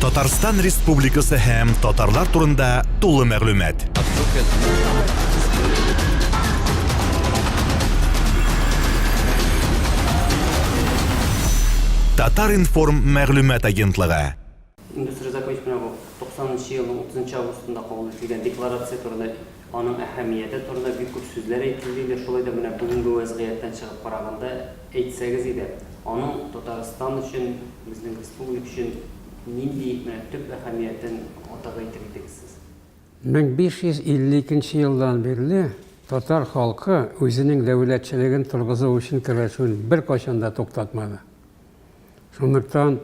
Татарстан Республикасы һәм татарлар турында тулы мәгълүмат. Татар информ мәгълүмат агентлыгы. Индустрия закончмә 90 елның 30 августында кабул ителгән декларация турында аның әһәмияте турында бик күп сүзләр әйтелде инде, шулай да менә бүгенге вәзгыятьтән чыгып караганда әйтсәгез иде, аның Татарстан өчен, безнең республика өчен нинди менә төп әһәмиятен атап әйтер идегез сез? 1552 нче елдан бирле татар халкы үзенең дәүләтчелеген торгызу өчен көрәшүен беркайчан да туктатмады. Шунлыктан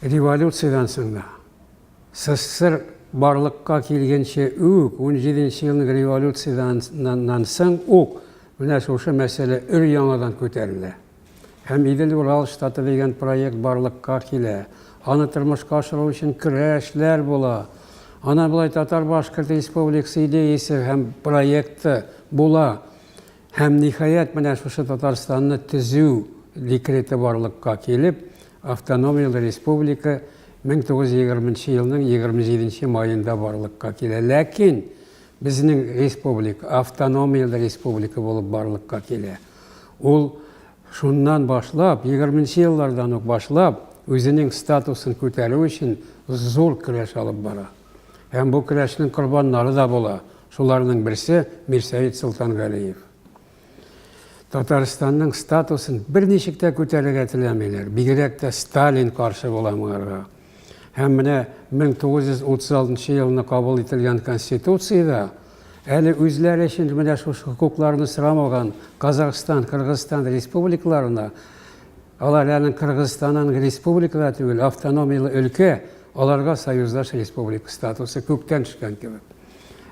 революциядән соң да, СССР барлыкка килгенче үк, унҗиденче елның революциядәннән соң ук менә шушы мәсьәлә өр-яңадан күтәрелә һәм Идел-Урал штаты дигән проект барлыкка килә, аны тормышка ашыру өчен көрәшләр була. Ана болай татар-башкорт республикасы идеясе һәм проекты була һәм, ниһаять, менә шушы Татарстанны төзү декреты барлыкка килеп, Автономияле республика 1920 елның 27 маенда барлыкка килә. Ләкин безнең республика автономияле республика булып барлыкка килә. Ул шуннан башлап, 20 еллардан ук башлап, үзенең статусын күтәрү өчен зур көрәш алып бара. Һәм бу көрәшнең корбаннары да була. Шуларның берсе Мирсәет Солтангалиев. Татарстанның статусын берничек тә күтәрергә теләмиләр. Бигрәк тә Сталин каршы була моңарга. Һәм менә 1936 елны кабул ителгән Конституциядә әле үзләре өчен менә шушы хокукларны сорамаган Казахстан, Кыргызстан республикаларына алар әле Кыргызстанның республикада түгел, автономияле өлкә, аларга союздаш республика статусы күктән төшкән кебек.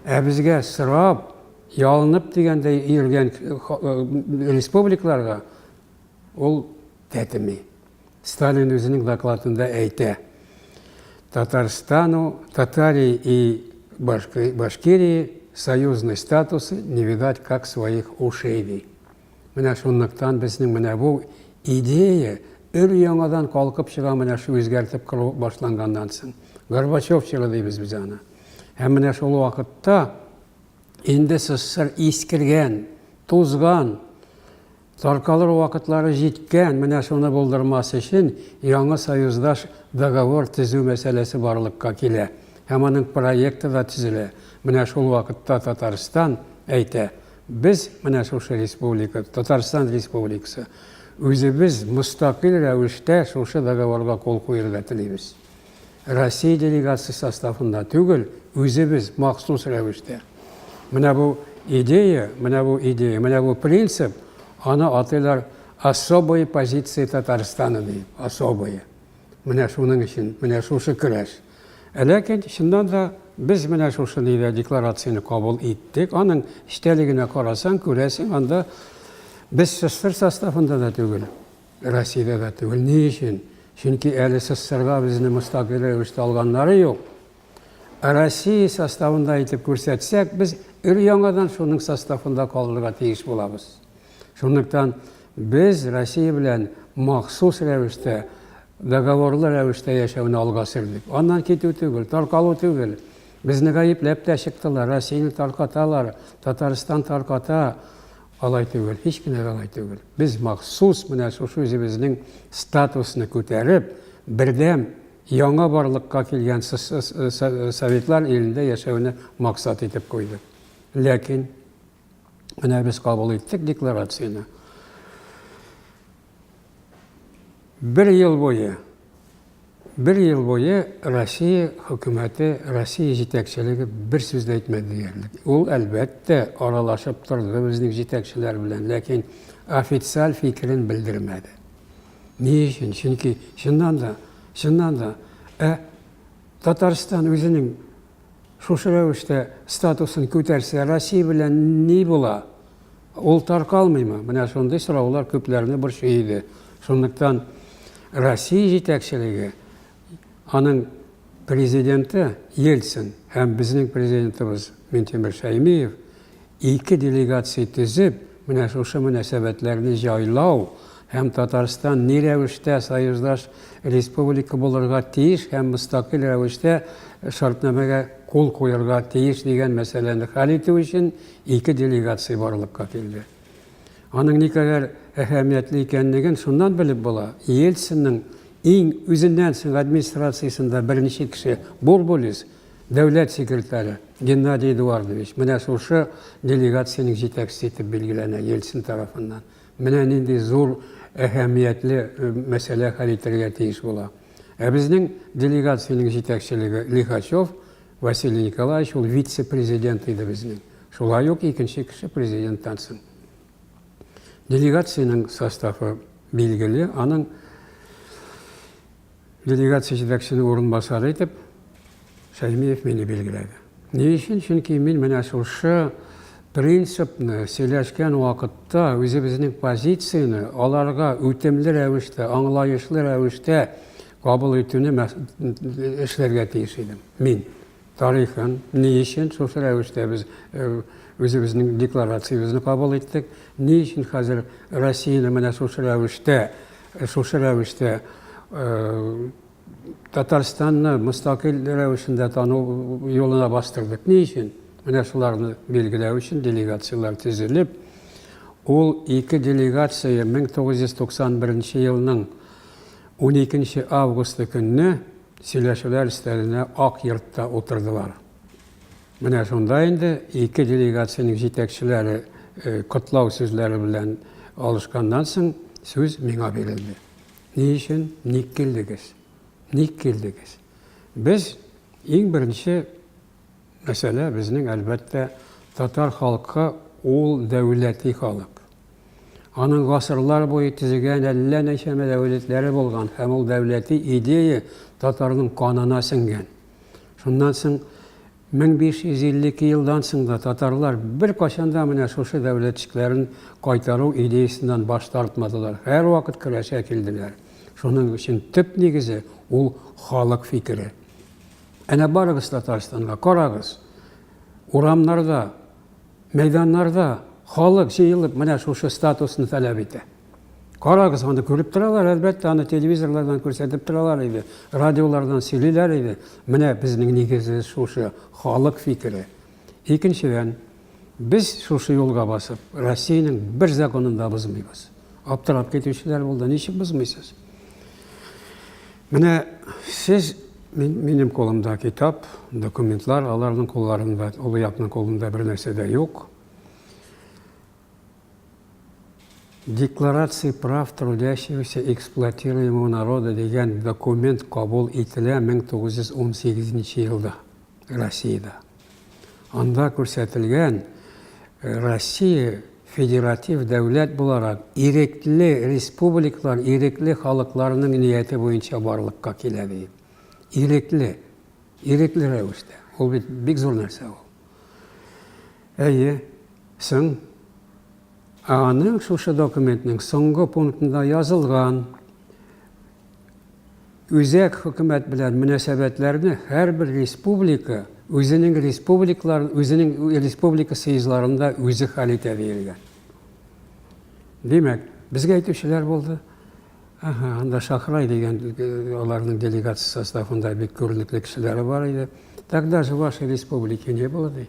Ә безгә сорап, Ялынып дигәндәй йөргән республикларга ул тәтеми. Сталин үзенең докладында әйтә, Татарстану, Татарии и Башкирии союзный статус не видать как своих ушей, ди. Менә шунлыктан безнең менә бу идея өр-яңадан калкып чыга менә шул үзгәртеп кору башланганнан соң. Горбачев чоры дибез без аны. Һәм менә шул вакытта Инде ссср искергән, тузган, таркалыр вакытлары җиткән, менә шуны булдырмас өчен яңа союздаш договор төзү мәсьәләсе барлыкка килә һәм аның проекты да төзелә. Менә шул вакытта Татарстан әйтә, без, менә шушы республика, Татарстан Республикасы, үзебез мөстәкыйль рәвештә шушы договорга кул куерга телибез. Россия делегациясе составында түгел, үзебез махсус рәвештә. Менә бу идея, менә бу идея, менә бу принцип, аны атыйлар особые позиции Татарстана ди, особые. Менә шуның өчен, менә шушы көрәш. Ә ләкин, чыннан да, без менә шушы нидә декларацияне кабул иттек. Аның эчтәлегенә карасаң, күрәсең, анда без СССР составында да түгел. Россиядә дә түгел. Ни өчен? Чөнки әле СССРда безне мөстәкыйль рәвештә алганнары юк. Ә Россия составында итеп күрсәтсәк, без өр-яңадан шуның составында калырга тиеш булабыз. Шунлыктан без Россия белән махсус рәвештә, договорлы рәвештә яшәүне алга сөрдек. Аннан китү түгел, таркалу түгел. Безне гаепләп тә чыктылар, Россияне таркаталар, Татарстан тарката. Алай түгел, һич кенә дә алай түгел. Без махсус менә шушы үзебезнең статусны күтәреп, бердәм, яңа барлыкка килгән Советлар илендә яшәүне максат итеп куйдык. Ләкин менә без кабул иттек декларацияне. Бер ел буе Бер ел буе Россия хөкүмәте, Россия җитәкчелеге бер сүз дә әйтмәде диярлек. Ул, әлбәттә, аралашып торды безнең җитәкчеләр белән, ләкин официаль фикерен белдермәде. Ни өчен? Чөнки чыннан да, чыннан да, ә Татарстан үзенең Шушы рәвештә статусын күтәрсә, Россия белән ни була? Ул таркалмыймы? Менә шундый сораулар күпләрне борчый иде. Шунлыктан Россия җитәкчелеге, аның президенты Ельцин һәм безнең президентыбыз Минтимер Шәймиев Ике делегация төзеп, менә шушы мөнәсәбәтләрне җайлау һәм Татарстан ни рәвештә союздаш республика булырга тиеш һәм мөстәкыйль рәвештә шартнамәгә кул куярга тиеш дигән мәсьәләне хәл итү өчен ике делегация барлыкка килде. Аның никадәр әһәмиятле икәнлеген шуннан белеп була, Ельцинның иң үзеннән соң администрациясендә беренче кеше Бурбулис, Дәүләт секретаре Геннадий Эдуардович менә шушы делегациянең җитәкчесе итеп билгеләнә Ельцин тарафыннан. Менә нинди зур әһәмиятле мәсьәлә хәл итәргә тиеш була. Ә безнең делегациянең җитәкчелеге Лихачев Василий Николаевич ул вице-президент иде безнең. Шулай ук икенче кеше президенттан соң. Делегациянең составы билгеле, аның Делегация җитәкчесенең урынбасары итеп Фәймиев мине билгеләде. Ни өчен? Чөнки мин менә шушы принципны сөйләшкән вакытта үзебезнең позицияне аларга үтемле рәвештә, аңлаешлы рәвештә кабул итүне эшләргә тиеш идем мин. тарихын, ни өчен шушы рәвештә без үзебезнең декларациябезне кабул иттек, ни өчен хәзер Россияне менә шушы рәвештә, шушы рәвештә Татарстанны мөстәкыйль рәвешендә тану юлына бастырдык. Ни өчен? Менә шуларны билгеләү өчен делегацияләр төзелеп, ул ике делегация 1991 елның 12 августы көнне Сөйләшүләр өстәленә Ак йортта утырдылар. Менә шунда инде ике делегациянең җитәкчеләре котлау сүзләре белән алышканнан соң сүз миңа бирелде. Ни өчен, ник килдегез? Ник килдегез? Без иң беренче Мәсьәлә безнең, әлбәттә, татар халкы ул дәүләти халык. Аның гасырлар буе төзегән әллә нәчәмә дәүләтләре булган һәм ул дәүләти идея татарның канына сеңгән. Шуннан соң 1552 елдан соң да татарлар беркайчан да менә шушы дәүләтчекләрен кайтару идеясеннән баш тартмадылар, һәрвакыт көрәшә килделәр. Шуның өчен төп нигезе ул халык фикере. Әнә барыгыз Татарстанга, карагыз. Урамнарда, мәйданнарда халык җыелып менә шушы статусны таләп итә. Карагыз, аны күреп торалар, әлбәттә, аны телевизорлардан күрсәтеп торалар иде, радиолардан сөйлиләр иде. Менә безнең нигезе шушы, халык фикере. Икенчедән, Без шушы юлга басып, Россиянең бер законын да бозмыйбыз. Аптырап китүчеләр булды, ничек бозмыйсыз? Менә сез минем кулымда китап, документлар, аларның кулларында, олы якның кулында бер нәрсә дә юк. Декларация прав трудящегося эксплуатируемого народа дигән документ кабул ителә 1918 елда. Россиядә. Анда күрсәтелгән Россия федератив дәүләт буларак ирекле республикалар, ирекле халыкларның нияте буенча барлыкка килә ди. Ирекле, ирекле рәвештә. Ул бит бик зур нәрсә ул. Әйе, соң аның шушы документның соңгы пунктында язылган Үзәк хөкүмәт белән мөнәсәбәтләрне һәрбер республика үзенең республикаларын, үзенең республика съездларында үзе хәл итә диелгән. Димәк, безгә әйтүчеләр булды. Ага, анда Шахрай дигән аларның делегация составында бик күренекле кешеләре бар иде. Тогда же вашей республики не было, ди.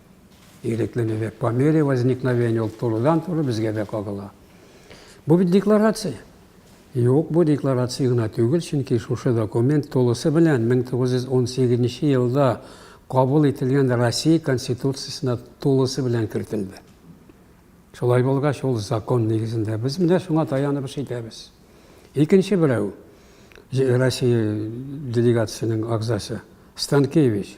Ирекле лилек по мере возникновения ул турыдан-туры безгә дә кагыла. Бу бит декларация. Юк, бу декларация гына түгел, чөнки шушы документ тулысы белән 1918 елда кабул ителгән Россия Конституциясенә тулысы белән кертелде. Шулай булгач, ул закон нигезендә без менә шуңа таянып эш итәбез. Икенче берәү Россия делегациясенең агзасы Станкевич.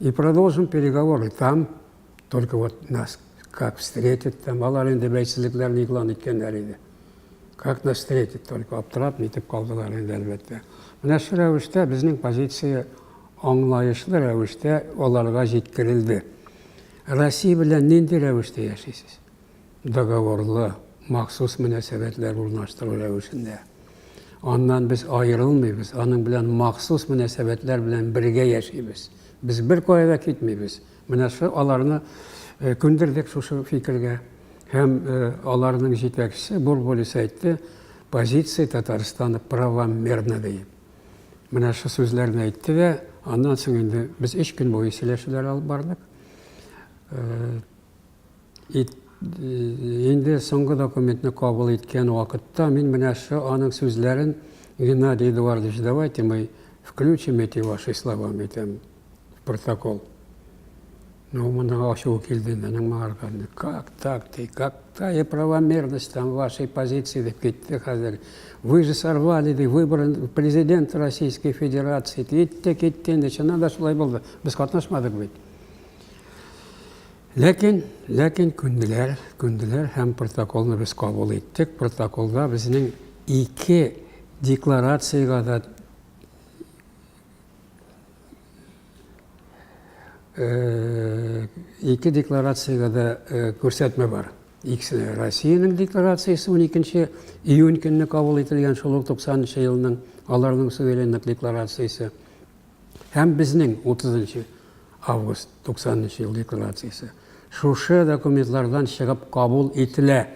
И продолжим переговоры там, только вот нас как встретят там, алар инде бәйсезлекләрен игълан иткәннәр иде. Как нас встретят, только аптырап нитеп калдылар инде әлбәттә. Менә шу рәвештә безнең позиция аңлаешлы рәвештә аларга җиткерелде. Россия белән нинди рәвештә яшисез? договорлы, махсус мөнәсәбәтләр урнаштыру рәвешендә. Аннан без аерылмыйбыз, аның белән махсус мөнәсәбәтләр белән бергә яшибез. Без беркая да китмибез. Менә шул аларны э, күндердек шушы фикергә. Һәм э, аларның җитәкчесе Бурбулис әйтте, позиция Татарстана правомерна диеп. Менә шул сүзләрне әйтте дә, аннан соң инде без өч көн буе сөйләшүләр алып бардык. Э, ит, инде соңгы документны кабул иткән вакытта мин менә шо аның сүзләрен Геннадий Эдуардович, давайте мы включим эти ваши слова, әйтәм, протокол. Ну, моның ачуы килде минем моңарга. Как так ты, какая правомерность там вашей позиции, дип китте хәзер. Вы же сорвали, ди, выборы президент Российской Федерации. Китте, китте, инде чыннан да шулай булды. Без катнашмадык бит. Ләкин, ләкин күнделәр, күнделәр һәм протоколны без кабул иттек. Протоколда безнең ике декларациягә дә э, ике декларациягә дә э, күрсәтмә бар. Икесе Россиянең декларациясе 12 июнь көнне кабул ителгән шул ук 90 елның аларның суверенлык декларациясе. Һәм безнең 30 нчы август 90 нчы ел декларациясе шушы документлардан чыгып кабул ителә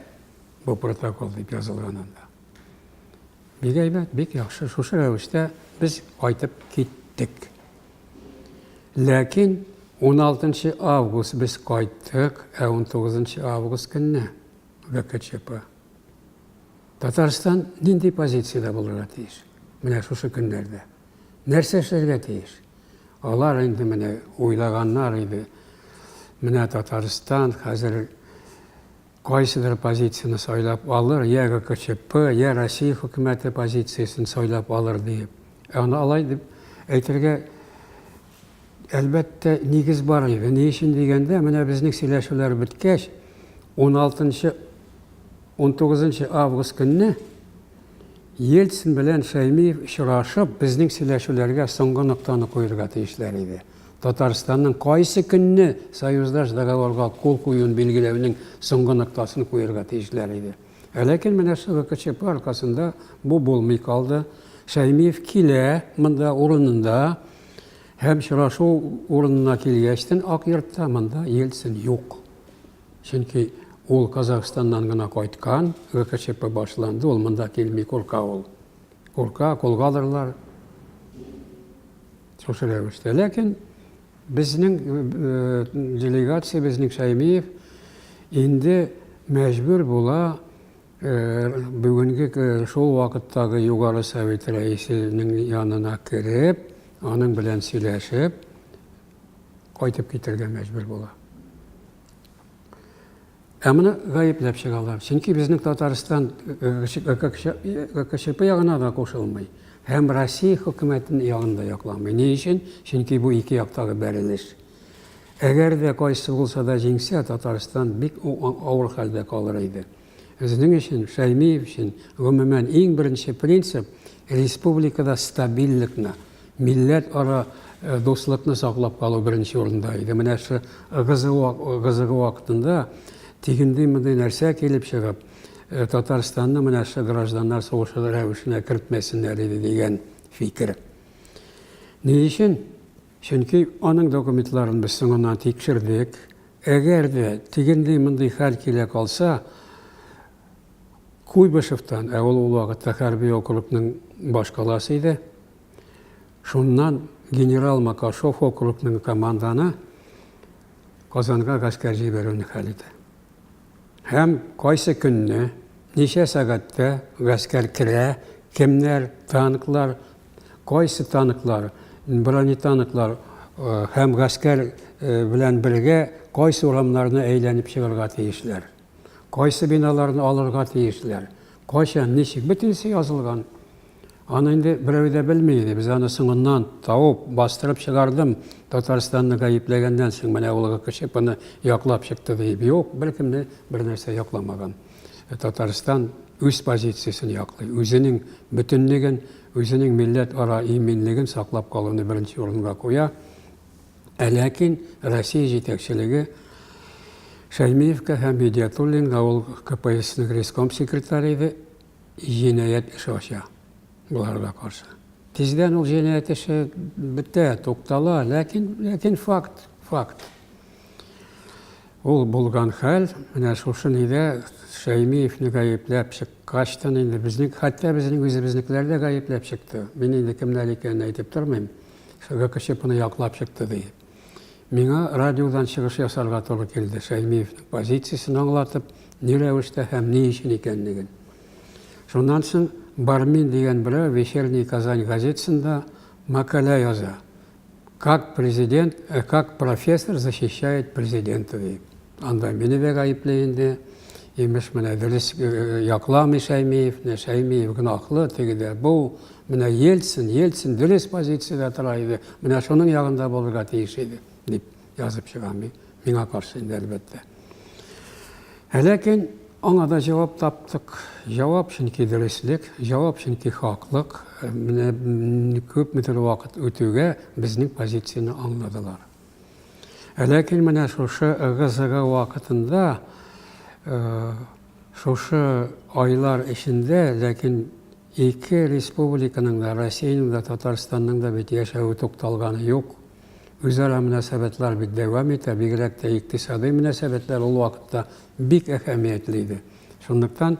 бу протокол дип язылган анда. Бик әйбәт, бик яхшы. Шушы рәвештә без кайтып киттек. Ләкин 16 август без кайттык, ә 19 август көнне ГКЧП. Татарстан нинди позициядә булырга тиеш? Менә шушы көннәрдә. Нәрсә эшләргә тиеш? Алар инде менә уйлаганнар иде. Менә Татарстан хәзер кайсыдыр позицияне сайлап алыр, я ГКЧП, я Россия хөкүмәте позициясен сайлап алыр диеп. Ә аны алай дип әйтергә әлбәттә нигез бар иде. Ни өчен дигәндә, менә безнең сөйләшүләр беткәч, 16 19 август көнне Ельцин белән Шәймиев очрашып, безнең сөйләшүләргә соңгы ноктаны куерга тиешләр иде. Татарстанның кайсы көнне союздаш договорга кул куюын билгеләүнең соңгы ноктасын куерга тиешләр иде. Ә ләкин менә шул ГКЧП аркасында бу булмый калды. Шәймиев килә монда урынында һәм очрашу урынына килгәчтен Ак йортта монда Ельцин юк. Чөнки ул Казахстаннан гына кайткан, ГКЧП башланды, ул монда килми, курка ул. Курка, кулга алырлар. Шушы рәвештә. Ләкин безнең э, э, делегация, безнең Шәймиев инде мәҗбүр була э, бүгенге шул вакыттагы Югары Совет рәисенең янына кереп, аның белән сөйләшеп, кайтып китергә мәҗбүр була. Ә моны гаепләп чыгалар. Чөнки безнең Татарстан ГКЧП ягына да кушылмый һәм Россия хөкүмәтен ягын да якламый. Ни өчен? Чөнки бу ике яктагы бәрелеш. Әгәр дә кайсы булса да җиңсә, Татарстан бик авыр хәлдә калыр иде. Безнең өчен, Шәймиев өчен, гомумән, иң беренче принцип, республикада стабильлекны, милләтара дуслыкны саклап калу беренче урында иде. Менә шу ГЗО вакытында тигенди-мондый нәрсә килеп чыгып, Татарстанны менә шу гражданнар сугышы рәвешенә кертмәсеннәр иде дигән фикер. Ни өчен? Чөнки аның документларын без соңыннан тикшердек. Әгәр дә тегендый-мондый хәл килә калса, Куйбышевтан, ә ул ул вакытта хәрби округның башкаласы иде, шуннан генерал Макашов округның команданы Казанга гаскәр җибәрүне хәл итә. Һәм кайсы көнне, ничә сәгатьтә гаскәр керә, кемнәр, танклар, кайсы танклар, бронетанклар һәм гаскәр белән бергә кайсы урамнарны әйләнеп чыгарга тиешләр, кайсы биналарны алырга тиешләр, кайчан, ничек, бөтенесе язылган. Аны инде берәү дә белми иде. Без аны соңыннан табып, бастырып чыгардым. Татарстанны гаепләгәннән соң менә ул кеше буны яклап чыкты диеп. Юк, беркемне бернәрсә якламаган. Э, Татарстан үз позициясен яклый, үзенең бөтенлеген, үзенең милләт ара иминлеген саклап калуны беренче урынга куя. Ә ләкин Россия җитәкчелеге Шәймиевка һәм Медиатуллинга ул КПССның реском секретаре иде, җинаять эше ача боларга каршы. Тиздән ул җинаять эше бетә, туктала, ләкин, ләкин факт, факт. Ул булган хәл, менә шушы нидә Шәймиевне гаепләп чыккачтан инде безнең, хәтта безнең үзебезнекеләр дә гаепләп чыкты. Мин инде кемнәр икәнен әйтеп тормыйм. ГКЧПны яклап чыкты диеп. Миңа радиодан чыгыш ясарга туры килде, Шәймиевнең позициясен аңлатып, ни рәвештә һәм ни өчен икәнлеген. Шуннан соң Бармин дигән берәү Вечерний Казань газетасында мәкалә яза. Как президент, э, как профессор защищает президента дип. Анда мине дә гаепли инде. Имеш, менә дөрес э, э, якламый Шәймиев, менә Шәймиев гөнаһлы, теге дә бу. Менә Ельцин, Ельцин дөрес позициядә тора иде. Менә шуның ягында булырга тиеш иде, дип язып чыга мин. Миңа каршы инде, әлбәттә. Ә ләкин аңа да җавап таптык. Җавап чөнки дөреслек, җавап чөнки хаклык. Э, менә күпмедер вакыт үтүгә безнең позицияне аңладылар. Ә ләкин менә шушы ыгы-зыгы вакытында, шушы айлар эчендә, ләкин ике республиканың да, Россиянең дә, Татарстанның да бит яшәве тукталганы юк. Үзара мөнәсәбәтләр бит дәвам итә, бигрәк тә икътисадый мөнәсәбәтләр ул вакытта бик әһәмиятле иде. Шунлыктан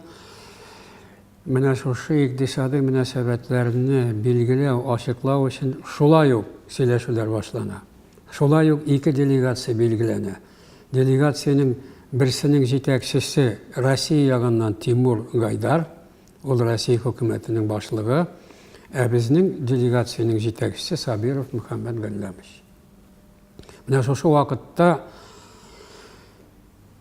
Менә шушы икътисади мөнәсәбәтләрне билгеләү, ачыклау өчен шулай ук сөйләшүләр башлана. Шулай ук ике делегация билгеләнә. Делегациянең берсенең җитәкчесе Россия ягыннан Тимур Гайдар, ул Россия хөкүмәтенең башлыгы, ә безнең делегациянең җитәкчесе Сабиров Мөхәммәт Галләмович. Менә шушы вакытта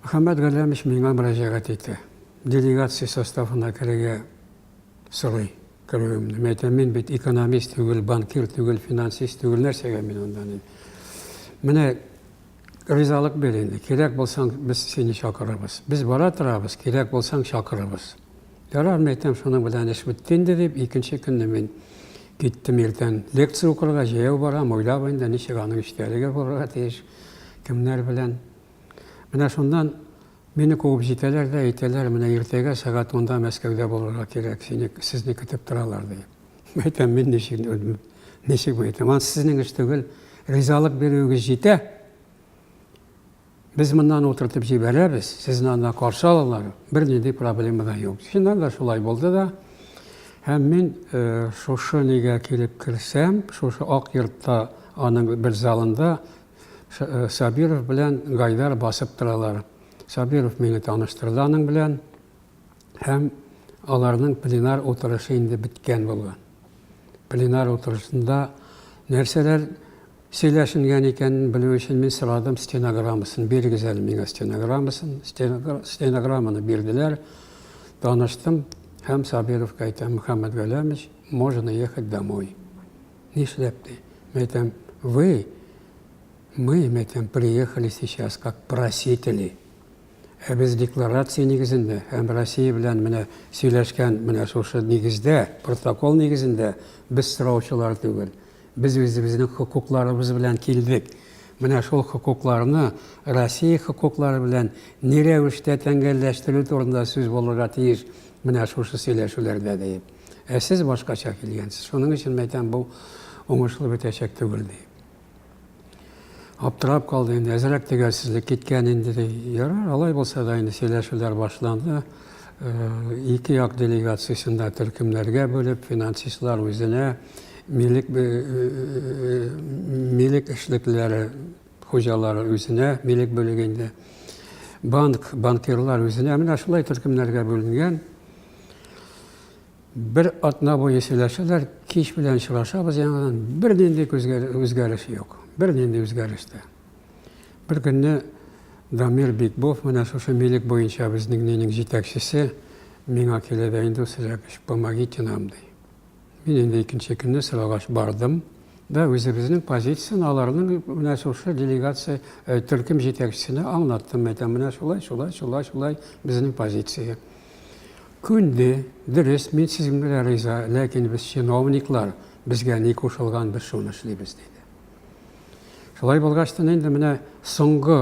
Мөхәммәт Галләмович миңа мөрәҗәгать итте. Делегация составына керергә сорый керүемне. Мин әйтәм, мин бит экономист түгел, банкир түгел, финансист түгел, нәрсәгә мин анда дим. Менә ризалык бир инде, кирәк булсаң, без сине чакырырбыз. Без бара торабыз, кирәк булсаң, чакырырбыз. Ярар, мин әйтәм, шуның белән эш бетте инде дип, икенче көнне мин киттем иртән лекция укырга, җәяү барам, уйлап инде, ничек аның эчтәлеге булырга тиеш, кемнәр белән. Менә шуннан мине куып җитәләр дә әйтәләр, менә иртәгә сәгать унда Мәскәүдә булырга кирәк, сине, сезне көтеп торалар, ди. Әйтәм, мин ничек, ничек мин әйтәм, анысы сезнең эш түгел, ризалык бирүегез җитә, без моннан утыртып җибәрәбез, сезне анда каршы алалар, бернинди проблема да юк. Чыннан да шулай булды да. Һәм мин э, шушы нигә килеп керсәм, шушы Ак йортта аның бер залында Сабиров белән Гайдар басып торалар. Сабиров мине таныштырды аның белән. Һәм аларның пленар утырышы инде беткән булган. Пленар утырышында нәрсәләр сөйләшенгән икәнен белү өчен мин сорадым стенограммасын. Бирегез әле миңа стенограммасын. Стенограмманы бирделәр. Таныштым һәм Сабировка әйтәм, Мөхәммәт Галәмович, можно ехать домой. Нишләп ди? Мин әйтәм, вы, мы, мин әйтәм, приехали сейчас как просители. Ә без декларация нигезендә һәм Россия белән менә сөйләшкән менә шушы нигездә, протокол нигезендә без сораучылар түгел. Без үзебезнең хокукларыбыз белән килдек. Менә шул хокукларны Россия хокуклары белән ни рәвештә тәңгәлләштерү турында сүз булырга тиеш менә шушы сөйләшүләрдә диеп. Ә сез башкача килгәнсез. Шуның өчен мин әйтәм, бу уңышлы бетәчәк түгел, ди. Аптырап калды инде, әзрәк тегәрсезлек киткән инде, ди. Ярар, алай булса да инде сөйләшүләр башланды. Ике як делегациясен дә төркемнәргә бүлеп, финансистлар үзенә милек милек эшлеклеләре Хуҗалары үзенә милек бүлеге инде. Банк, банкирлар үзенә. Менә шулай төркемнәргә бүленгән. Бер атна буе сөйләшәләр, кич белән очрашабыз яңадан. Бернинди үзгәреш юк. Бернинди үзгәреш тә. Бер көнне Дамир Бикбов, менә шушы милек буенча безнең нинең җитәкчесе, миңа килә дә инде, Сергей Яковлевич, помогите нам, ди. Мин инде икенче көнне сорагач бардым да үзебезнең позицияне аларның менә шушы делегация э, төркем җитәкчесенә аңлаттым. Әйтәм, менә шулай, шулай, шулай, шулай безнең позиция. Күнде, дөрес, мин сезгә генә риза, ләкин без чиновниклар, безгә ни кушылган, без шуны эшлибез, диде. Шулай булгач та инде менә соңгы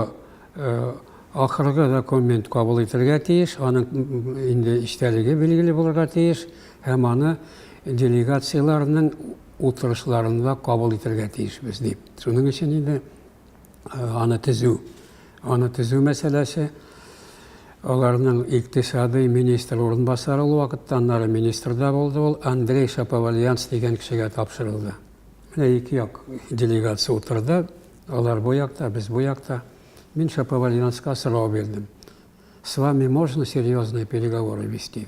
э, ахыргы документ кабул итәргә тиеш, аның инде эчтәлеге билгеле булырга тиеш. Һәм аны делегацияләрнең утырышларында кабул итәргә тиешбез дип. Шуның өчен инде аны төзү, аны төзү мәсьәләсе аларның икътисадый министр урынбасары ул вакытта, аннары министр да булды ул, Андрей Шаповальянс дигән кешегә тапшырылды. Менә ике як делегация утырды, алар бу якта, без бу якта. Мин Шаповальянска сорау бирдем. С вами можно серьезные переговоры вести?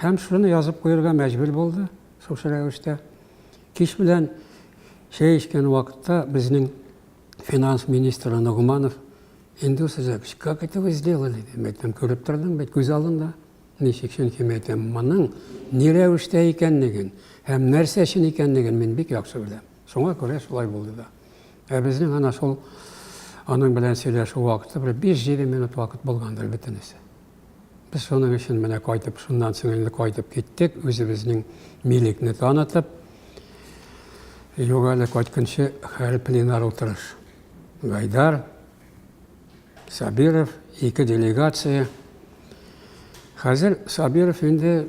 Һәм шуны язып куярга мәҗбүр булды, шушы рәвештә. Кич белән чәй эчкән вакытта безнең финанс министры Ногманов инде сезгә как это вы сделали дип әйтәм, күреп тордым бит күз алдында. Ничек чөнки мин әйтәм, моның ни рәвештә икәнлеген һәм нәрсә өчен икәнлеген мин бик яхшы беләм. Шуңа күрә шулай булды да. Ә безнең ана шул аның белән сөйләшү вакыты бер 5-7 минут вакыт булгандыр бөтенесе. Без шуның өчен менә кайтып, шуннан соң инде кайтып киттек, үзебезнең милекне танытып. Юк әле кайтканчы хәл пленар утырыш. Гайдар, Сабиров, ике делегация. Хәзер Сабиров инде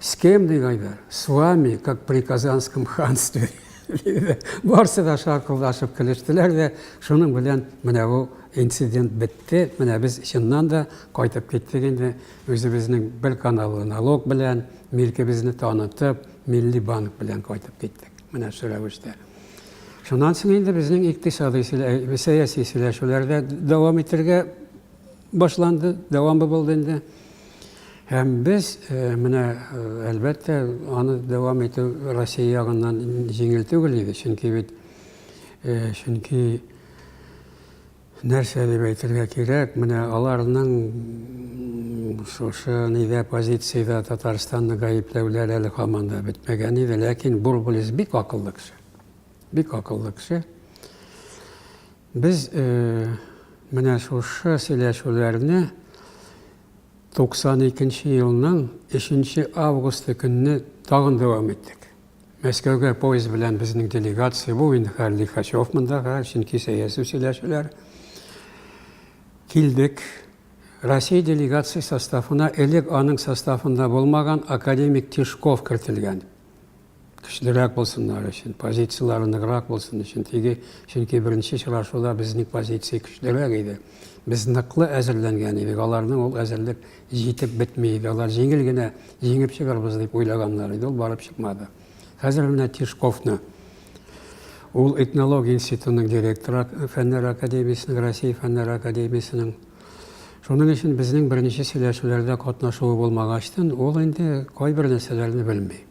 С кем, ди Гайдар? С вами, как при Казанском ханстве. Барсы да шаркылдашып көлештеләр дә, шуның белән менә бу инцидент бетте. Менә без чыннан да кайтып киттек инде үзебезнең бер каналлы налог белән, милкебезне танытып, милли банк белән кайтып киттек. Менә шул рәвештә. Шуннан соң инде безнең икътисадый сәяси сөйләшүләрдә дәвам итәргә башланды, дәвамы булды инде. Һәм без э, менә э, әлбәттә аны дәвам итү Россия ягыннан җиңел түгел иде, чөнки бит э, чөнки нәрсә дип әйтергә кирәк, менә аларның шушы нидә позициядә Татарстанны гаепләүләр әле һаман да бетмәгән иде, ләкин Бурбулис бик акыллы кеше. Бик акыллы кеше. Без менә шушы сөйләшүләрне 92 нче елның 3 нче августы көнне тагын дәвам иттек. Мәскәүгә поезд белән безнең делегация, бу инде хәл Лихачев мондага, чөнки сәяси сөйләшүләр. Килдек. Россия делегация составына элек аның составында булмаган академик Тишков кертелгән. көчлерәк булсыннар өчен, позицияләре ныграк булсын өчен. Теге, чөнки беренче очрашуда безнең позиция көчлерәк иде. Без ныклы әзерләнгән идек, аларның ул әзерлек җитеп бетми иде. Алар җиңел генә җиңеп чыгарбыз дип уйлаганнар иде, ул барып чыкмады. Хәзер менә Тишковны ул этнология институтының директоры фәннәр академиясенең, Россия фәннәр академиясенең Шуның өчен безнең беренче сөйләшүләрдә катнашуы булмагачтын, ул инде кайбер нәрсәләрне белми.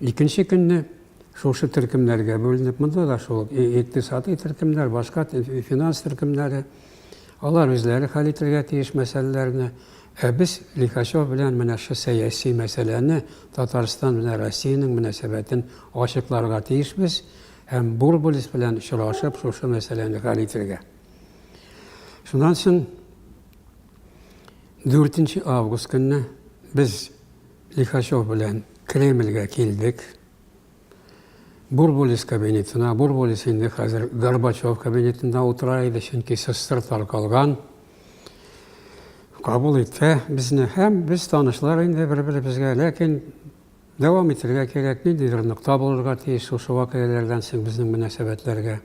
Икенче көнне шушы төркемнәргә бүленеп, монда да шул ук икътисадый төркемнәр, башка финанс төркемнәре, алар үзләре хәл итергә тиеш мәсьәләләрне, ә без Лихачев белән менә шул сәяси мәсьәләне, Татарстан белән Россиянең мөнәсәбәтен ачыкларга тиешбез һәм Бурбулис белән очрашып, шушы мәсьәләне хәл итергә. Шуннан соң дүртенче август көнне без Лихачев белән Кремльгә килдек. Бурбулис кабинетына, Бурбулис инде хәзер Горбачев кабинетында утыра иде, чөнки сыстыр таркалган. Кабул итте безне һәм без танышлар инде бер-беребезгә, ләкин дәвам итергә кирәк, ниндидер нокта булырга тиеш шушы вакыйгалардан соң безнең мөнәсәбәтләргә.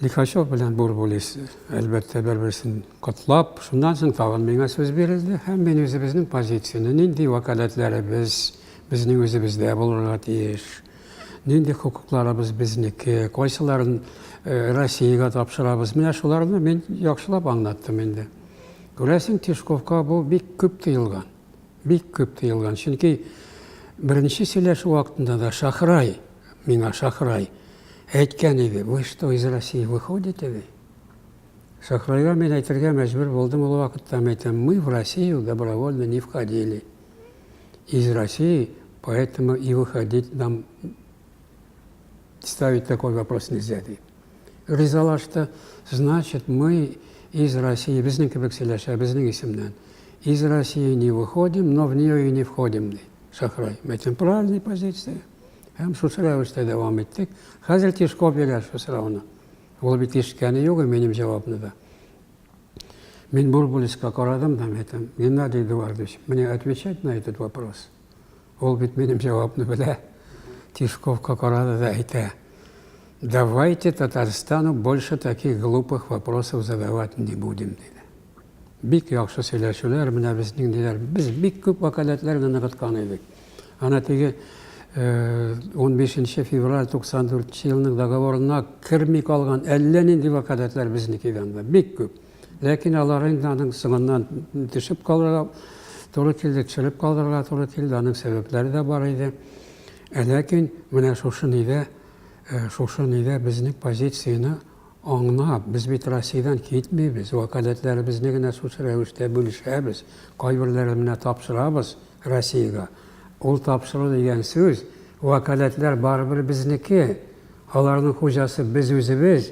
Лихачев белән Бурбулис, әлбәттә, бер-берсен котлап, шуннан соң тагын миңа сүз бирелде һәм мин үзебезнең позицияне, нинди вәкаләтләребез безнең үзебездә булырга тиеш, нинди хокукларыбыз безнеке, кайсыларын Россиягә тапшырабыз, менә шуларны мин яхшылап аңлаттым инде. Күрәсең, Тишковка бу бик күп тоелган. Бик күп тыелган, чөнки беренче сөйләшү вакытында да Шахрай миңа, Шахрай, әйткән иде, вы что, из России выходите ди? Шахрайга мин әйтергә мәҗбүр булдым ул вакытта, мин әйтәм, мы в Россию добровольно не входили, из России поэтому и выходить нам ставить такой вопрос нельзя ди. Ризалашты. Значит, мы из России, безнең кебек сөйләшә, безнең исемнән. Из России не выходим, но в нее и не входим, ди. Шахрай. Мәйтем, правильная позиция. Һәм шушы рәвештә дәвам иттек. Хәзер Тишков бирә шу сорауны. Ул бит ишеткәне юк, минем җавапны да. Мин Бурбулиска карадым да, мәйтем, Геннадий Эдуардович, мне отвечать на этот вопрос – Ул бит минем җавапны белә. Тишковка карады да әйтә. Давайте Татарстану больше таких глупых вопросов задавать не будем, диде. Бик яхшы сөйләшүләр, менә безнең диләр. Без бик күп вәкаләтләр генә ныгыткан идек. Ана теге 15 э, февраль 94 елның договорына керми калган әллә нинди вәкаләтләр безнеке янда. Бик күп. Ләкин алар инде аның соңыннан төшеп калырга туры килде, төшереп калдырырга туры килде, аның сәбәпләре дә бар иде. Ә ләкин менә шушы нидә, э, шушы нидә безнең позицияне аңлап, без бит Россиядән китмибез, вәкаләтләребезне генә шушы рәвештә бүлешәбез, кайберләрен менә тапшырабыз Россиягә. Ул тапшыру дигән сүз, вәкаләтләр барыбер безнеке, аларның хуҗасы без үзебез,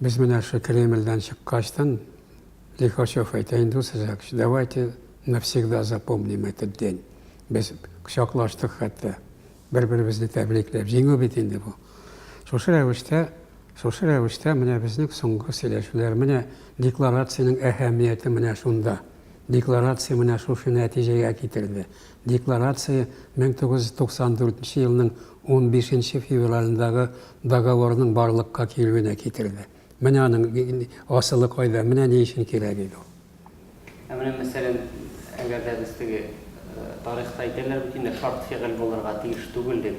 Без менә шул Кремльдән чыккачтан, Лихачев әйтә инде сезгә, давайте навсегда запомним этот день. Без кочаклаштык хәтта, бер-беребезне тәбрикләп. Җиңү бит инде бу. Шушы рәвештә, шушы рәвештә менә безнең соңгы сөйләшүләр, менә декларациянең әһәмияте менә шунда. Декларация менә шушы нәтиҗәгә китерде. Декларация 1994 нче елның 15 нче февралендагы договорның барлыкка килүенә китерде. Менә аның асылы кайда, менә ни өчен кирәк иде ул. Ә менә, мәсәлән, әгәр дә без теге, тарихта әйтәләр бит инде, шарт фигыль булырга тиеш түгел дип,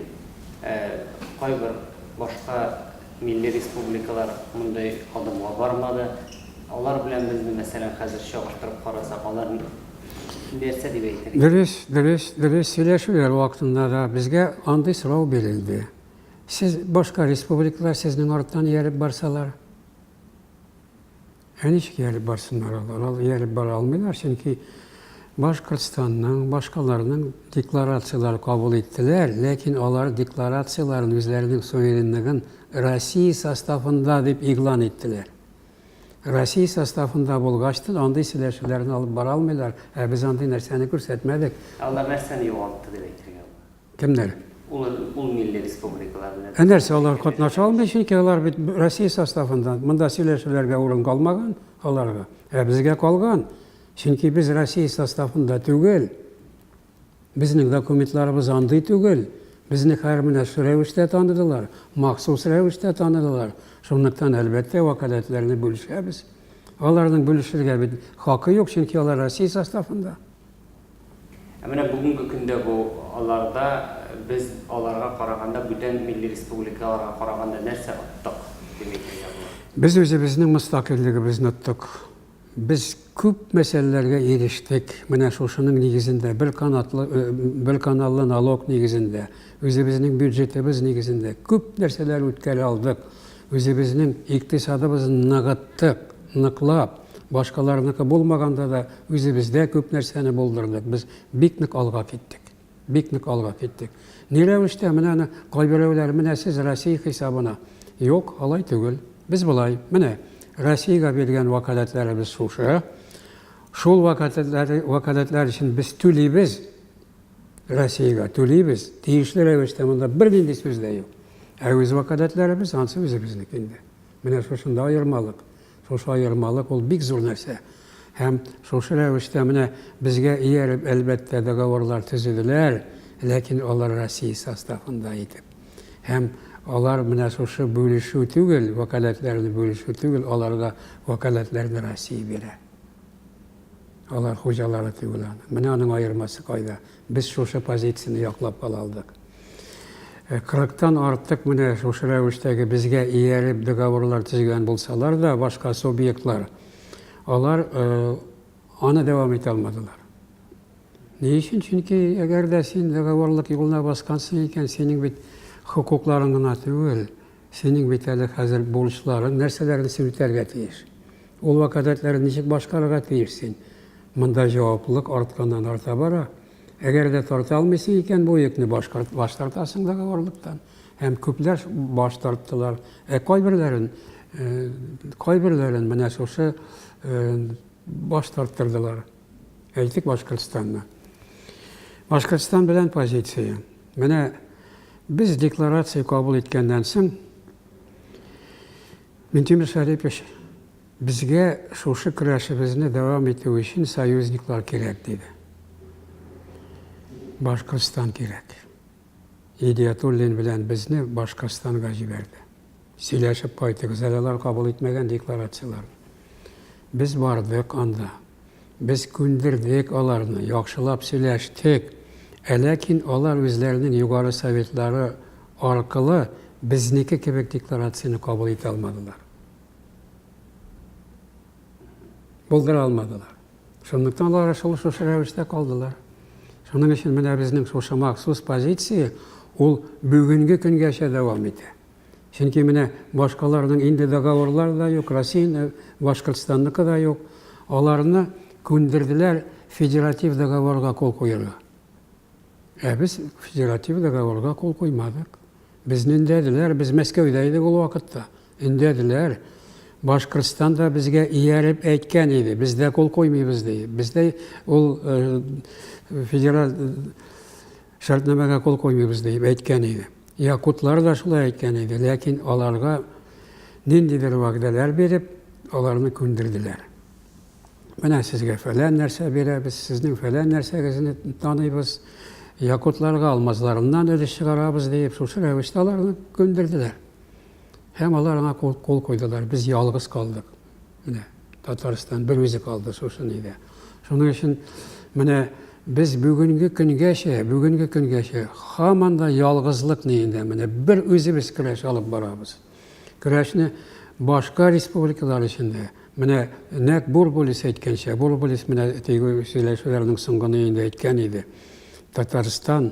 ә кайбер башка милли республикалар мондый адымга бармады. Алар белән безне, мәсәлән, хәзер чагыштырып карасак, алар, Дөрес, дөрес, дөрес сөйләшүләр вакытында да безгә андый сорау бирелде. Сез башка республикалар сезнең арттан ияреп барсалар, ә ничек ияреп барсыннар алар? Алар ияреп бара алмыйлар, чөнки Башкортстанның, башкаларның декларацияләре кабул иттеләр, ләкин алар декларацияләрен үзләренең суверенлыгын Россия составында дип игълан иттеләр. Россия составында булгач та андый сөйләшүләрне алып бара алмыйлар, ә без андый нәрсәне күрсәтмәдек. Ә алар нәрсәне югалтты дип әйтергә була? Кемнәр? Ул, ул милли республикалар белән. Ә нәрсә алар катнаша алмый, чөнки алар бит Россия составында. Монда сөйләшүләргә урын калмаган аларга. Ә безгә калган. Чөнки без Россия составында түгел. Безнең документларыбыз андый түгел. Безне хәер менә шу рәвештә таныдылар, махсус рәвештә таныдылар. Шунлыктан, әлбәттә, вәкаләтләрне бүлешәбез. Аларның бүлешергә бит хакы юк, чөнки алар Россия составында. Ә менә бүгенге көндә бу аларда без аларга караганда, бүтән милли республикаларга караганда нәрсә оттык, Дмитрий Яблоко? Без үзебезнең мөстәкыйльлегебезне оттык. Без күп мәсьәләләргә ирештек менә шушының нигезендә, бер канатлы, бер каналлы налог нигезендә, үзебезнең бюджетыбыз нигезендә күп нәрсәләр үткәрә алдык, үзебезнең икътисадыбызны ныгыттык, ныклап, башкаларныкы булмаганда да үзебездә күп нәрсәне булдырдык, без бик нык алга киттек. Бик нык алга киттек. Ни рәвештә? Менә аны кайберәүләр, менә сез Россия хисабына. Юк, алай түгел. Без болай, менә, Россиягә биргән вәкаләтләребез шушы. Шул вәкаләтләр, вәкаләтләр өчен без түлибез. Россиягә түлибез. Тиешле рәвештә монда бернинди сүз дә юк. Ә үз вәкаләтләребез ансы үзебезнеке инде. Менә шушында аермалык. Шушы аермалык ул бик зур нәрсә. Һәм шушы рәвештә менә безгә ияреп, әлбәттә, договорлар төзеделәр, ләкин алар Россия составында итеп. Һәм алар менә шушы бүлешү түгел, вәкаләтләрне бүлешү түгел, аларга вәкаләтләрне Россия бирә. Алар хуҗалары түгел аның. Менә аның аермасы кайда? Без шушы позицияне яклап кала алдык. Кырыктан артык менә шушы рәвештәге безгә ияреп договорлар төзегән булсалар да, башка субъектлар, алар аны дәвам итә алмадылар. Ни өчен? Чөнки әгәр дә син договорлык юлына баскансың икән, синең бит хокукларың гына түгел, Синең бит әле хәзер бурычларың нәрсәләрне син үтәргә тиеш? Ул вәкаләтләрен ничек башкарырга тиеш син? Монда җаваплылык артканнан-арта бара. Әгәр дә тарта алмыйсың икән бу йөкне, башкарт, баш тартасың договорлыктан. Һәм күпләр баш тарттылар. Ә кайберләрен, кайберләрен менә шушы баш тарттырдылар. Әйтик, Башкортстанны. Башкортстан белән позиция. Менә без декларация кабул иткәннән соң Минтимер Шәрипович безгә шушы көрәшебезне дәвам итү өчен союзниклар кирәк диде. Башкортстан кирәк. Идиятуллин белән безне Башкортстанга җибәрде. Сөйләшеп кайтыгыз әле алар кабул итмәгән декларацияләрне. Без бардык анда. Без күндердек аларны, яхшылап сөйләштек. Ә ләкин алар үзләренең Югары Советлары аркылы безнеке кебек декларацияне кабул итә алмадылар. Булдыра алмадылар. Шунлыктан алар шул шушы рәвештә калдылар. Шуның өчен менә безнең шушы махсус позиция ул бүгенге көнгәчә дәвам итә. Чөнки менә башкаларның инде договорлар да юк, Россияне, Башкортстанныкы да юк. Аларны күндерделәр федератив договорга кул куярга. Ә без федератив договорга кул куймадык. Безне өндәделәр, без Мәскәүдә идек ул вакытта. Өндәделәр. Башкортстан да безгә ияреп әйткән иде, без дә кул куймыйбыз ди. Без дә ул федераль шартнамәгә кул куймыйбыз дип әйткән иде. Якутлар да шулай әйткән иде, ләкин аларга ниндидер вәгъдәләр биреп, аларны күндерделәр. Менә сезгә фәлән нәрсә бирәбез, сезнең фәлән нәрсәгезне таныйбыз, якутларга алмазларыннан өлеш чыгарабыз дип, шушы рәвештә аларны күндерделәр. Һәм алар аңа кул, кул куйдылар. Без ялгыз калдык. Менә Татарстан бер үзе калды шушы нидә. Шуның өчен менә без бүгенге көнгәчә, бүгенге көнгәчә һаман да ялгызлык ниендә менә бер үзебез көрәш алып барабыз. Көрәшне башка республикалар эчендә менә нәк Бурбулис әйткәнчә, Бурбулис менә тегү сөйләшүләрнең соңгы ниендә әйткән иде. Татарстан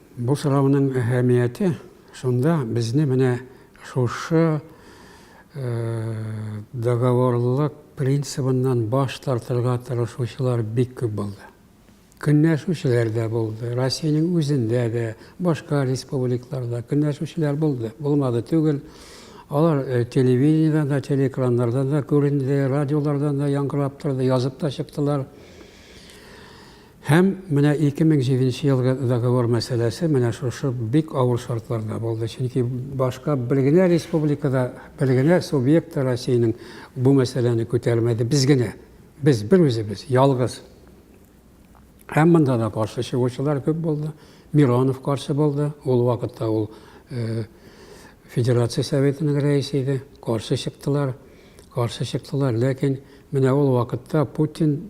Бу сорауның әһәмияте шунда, безне менә шушы договорлылык принцибыннан баш тартырга тырышучылар бик күп булды. Көнләшүчеләр дә булды, Россиянең үзендә дә, башка республикларда көнләшүчеләр булды, булмады түгел. Алар телевидениедән дә, телеэкраннардан да күренде, радиолардан да яңгырап торды, язып та чыктылар. Һәм менә 2007 нче елгы договор мәсьәләсе менә шушы бик авыр шартларда булды, чөнки башка бер генә республика да, бер генә субъект та Россиянең бу мәсьәләне күтәрмәде, без генә, без, бер үзебез, ялгыз. Һәм монда да каршы чыгучылар күп булды. Миронов каршы булды, ул вакытта ул э, Федерация Советының рәисе иде, каршы чыктылар, каршы чыктылар, ләкин менә ул вакытта Путин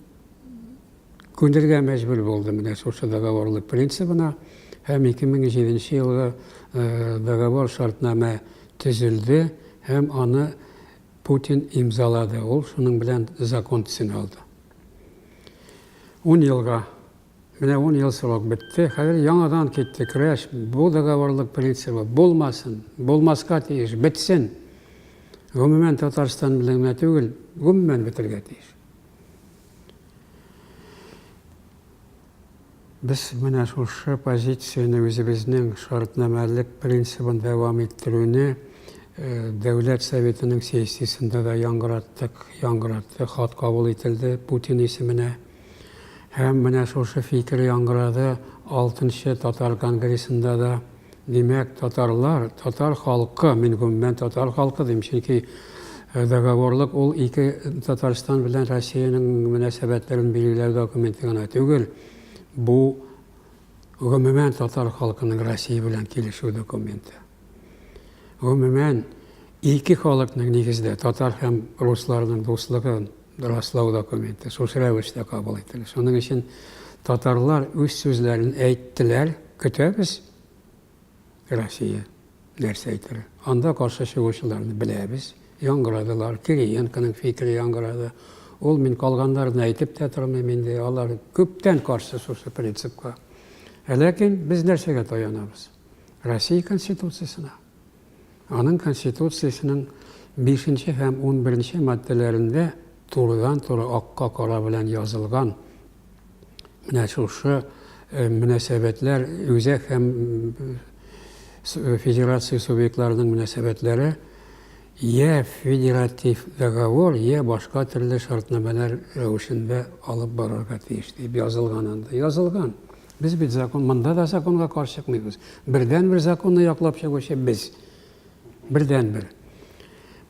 Күнергә мәҗбүр булды менә шушы договорлык принцибына һәм 2007 елгы договор шартнамә төзелде һәм аны Путин имзалады, ул шуның белән закон төсен алды. Ун елга, менә ун ел срок бетте, хәзер яңадан китте көрәш, бу договорлык принцибы булмасын, булмаска тиеш, бетсен. Гомумән Татарстан белән генә түгел, гомумән бетергә тиеш. Без менә шушы позицияне, үзебезнең шартнамәлек принцибын дәвам иттерүне Дәүләт Советының сессиясендә дә яңгыраттык, яңгыратты, хат кабул ителде Путин исеменә. Һәм менә шушы фикер яңгырады Алтынчы татар конгрессында да. Димәк, татарлар, татар халкы, мин гомумән татар халкы дим, чөнки э, договорлык ул ике Татарстан белән Россиянең мөнәсәбәтләрен билгеләү документы гына түгел. Бу гомумән татар халкының Россия белән килешү документы. Гомумән ике халыкның нигездә татар һәм русларның дуслыгын раслау документы шушы рәвештә кабул ителә. Шуның өчен татарлар үз сүзләрен әйттеләр, көтәбез. Россия нәрсә әйтер? Анда каршы чыгучыларны беләбез, яңгырадылар, Кириенконың фикере яңгырады. Ул мин калганнарны әйтеп тә тормыйм инде, алар күптән каршы шушы принципка. Ә ләкин без нәрсәгә таянабыз? Россия Конституциясенә. Аның Конституциясенең бишенче һәм унберенче маддәләрендә турыдан-туры акка кара белән язылган менә шушы мөнәсәбәтләр үзәк һәм федерация субъектларының мөнәсәбәтләре йә федератив договор, йә башка төрле шартнамәләр рәвешендә алып барырга тиеш дип язылган анда. Язылган. Без бит закон, монда да законга каршы чыкмыйбыз. Бердән-бер законны яклап чыгучы без. Бердән-бер.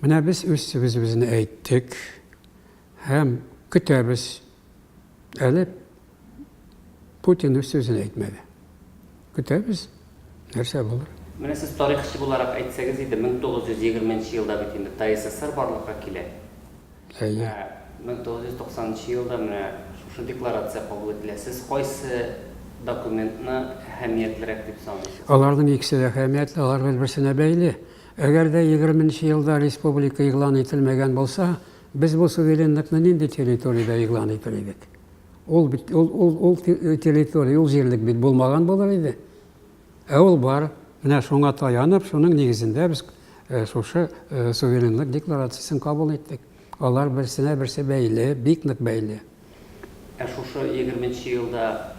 Менә без үз сүзебезне әйттек һәм көтәбез. Әле Путин үз сүзен әйтмәде. Көтәбез, нәрсә булыр. Менә сез тарихчы буларак әйтсәгез иде, 1920 елда бит инде ТССР барлыкка килә. Әйе. Менә 1990 елда менә шушы декларация кабул ителә. Сез кайсы документны әһәмиятлерәк дип саныйсыз? Аларның икесе дә әһәмиятле, алар бер-берсенә бәйле. Әгәр дә егерме нче елда республика игълан ителмәгән булса, без бу суверенлыкны нинди территориядә игълан итер идек? Ул бит, ул, ул, ул территория, ул җирлек бит булмаган булыр иде. Ә ул бар. Менә шуңа таянып, шуның нигезендә без шушы суверенлык декларациясен кабул иттек. Алар берсенә берсе бәйле, бик нык бәйле. Ә шушы егерменче елда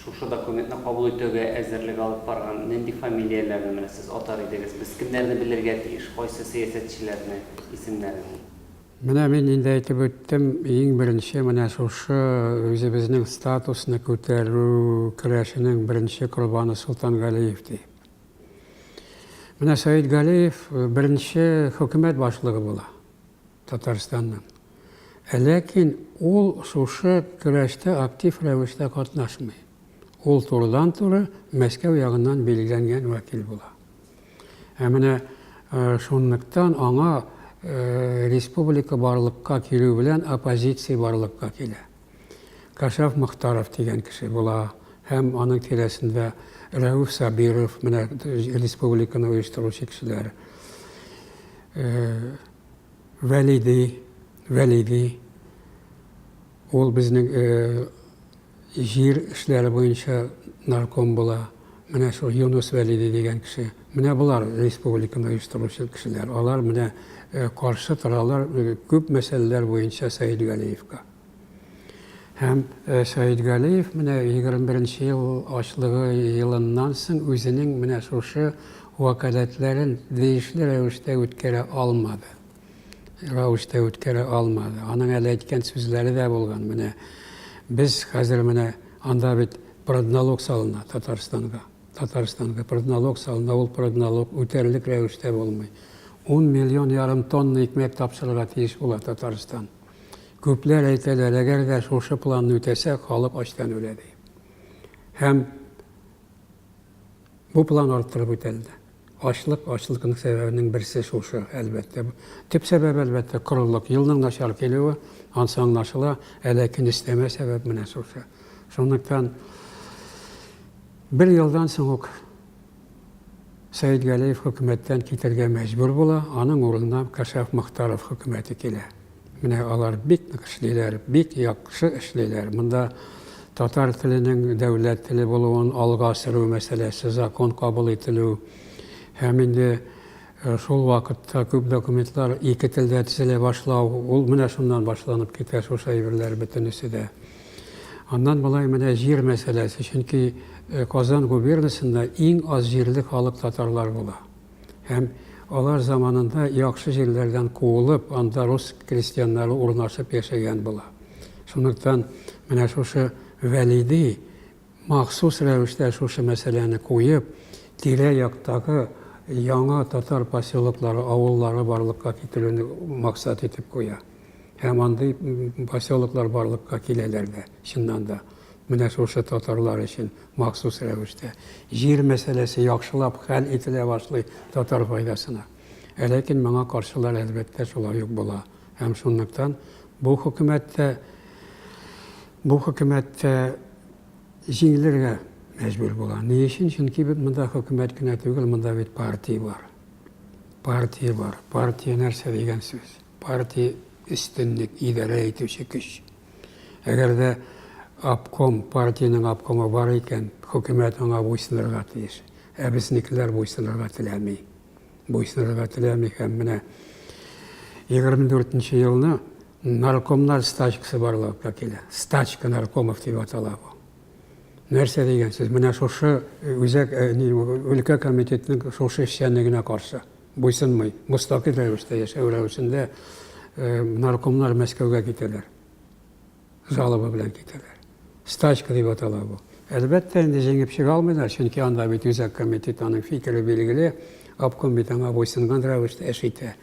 шушы документны кабул итүгә әзерлек алып барган нинди фамилияләрне менә сез атар идегез? Без кемнәрне белергә тиеш, кайсы сәясәтчеләрне исемнәрен? Менә мин инде әйтеп үттем, иң беренче менә шушы үзебезнең статусны күтәрү көрәшенең беренче корбаны Солтан Галиев ди. Менә Саид Галиев беренче хөкүмәт башлыгы була Татарстанның. Ә ләкин ул шушы көрәштә актив рәвештә катнашмый. Ул турыдан-туры Мәскәү ягыннан билгеләнгән вәкил була. Ә менә шунлыктан аңа республика барлыкка килү белән оппозиция барлыкка килә. Кашаф Мохтаров дигән кеше була һәм аның тирәсендә Рәүф Сабиров, менә республиканы оештыручы кешеләр. Вәлиди, Вәлиди, ул безнең Җир эшләре буенча нарком була, менә шул Юныс Вәлиди дигән кеше. Менә болар республиканы оештыручы кешеләр. Алар менә каршы торалар күп мәсьәләләр буенча Сәет Галиевка. Һәм Сәет Галиев менә 21 нче ел ачлыгы елыннан соң үзенең менә шушы вәкаләтләрен тиешле рәвештә үткәрә алмады. рәвештә үткәрә алмады. Аның әле әйткән сүзләре дә булган. Менә без хәзер менә анда бит продналог салына Татарстанга. Татарстанга продналог салына, ул продналог үтәрлек рәвештә булмый. 10 миллион ярым тонна икмәк тапшырырга тиеш була Татарстан. Күпләр әйтәләр, әгәр дә шушы планны үтәсәк, халык ачтан үлә ди. Һәм Бу план арттырып үтәлде. Ачлык, ачлыкның сәбәбенең берсе шушы, әлбәттә. Төп сәбәбе, әлбәттә, корылык. Елның начар килүе, ансы аңлашыла, ә ләкин өстәмә сәбәп менә шушы. Шунлыктан бер елдан соң ук Сәет Галиев хөкүмәттән китәргә мәҗбүр була, аның урынына Кашаф Мохтаров хөкүмәте килә. Менә алар бик нык эшлиләр, бик яхшы эшлиләр. Монда татар теленең дәүләт теле булуын алга сөрү мәсьәләсе, закон кабул ителү һәм инде шул вакытта күп документлар ике телдә төзелә башлау, ул менә шуннан башланып китә шушы әйберләр бөтенесе дә. Аннан болай менә җир мәсьәләсе, чөнки Казан губернасында иң аз җирле халык татарлар була. Һәм алар заманында яхшы җирләрдән куылып, анда рус крестьяннары урнашып яшәгән була. Шунлыктан менә шушы Вәлиди махсус рәвештә шушы мәсьәләне куеп, тирә-яктагы яңа татар поселоклары, авыллары барлыкка китерүне максат итеп куя. Һәм андый поселоклар барлыкка киләләр дә, чыннан да. Менә шушы татарлар өчен махсус рәвештә. Җир мәсьәләсе яхшылап хәл ителә башлый татар файдасына. Ә ләкин моңа каршылар, әлбәттә, шулай ук була. Һәм шунлыктан бу хөкүмәт тә, бу хөкүмәт тә җиңелергә мәҗбүр була. Ни өчен? Чөнки бит монда хөкүмәт кенә түгел, монда бит партия бар. Партия бар. Партия нәрсә дигән сүз? Партия өстенлек, идарә итүче көч. Әгәр дә обком, партиянең обкомы бар икән, хөкүмәт аңа буйсынырга тиеш. Ә безнекеләр буйсынырга теләми. Буйсынырга теләми һәм менә 24 нче елны наркомнар стачкасы барлыкка килә. Стачка наркомов дип атала бу. Нәрсә дигән сүз? Менә шушы э, үзәк э, өлкә комитетның шушы эшчәнлегенә каршы. Буйсынмый, мөстәкыйль рәвештә яшәү рәвешендә наркомнар Мәскәүгә китәләр. Жалоба белән китәләр. Стачка дип атала бу. Әлбәттә, инде җиңеп чыга алмыйлар, чөнки анда бит үзәк комитет, аның фикере билгеле, обком бит аңа буйсынган рәвештә эш итә.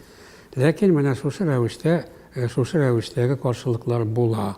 Ләкин менә шушы рәвештә, шушы рәвештәге каршылыклар була.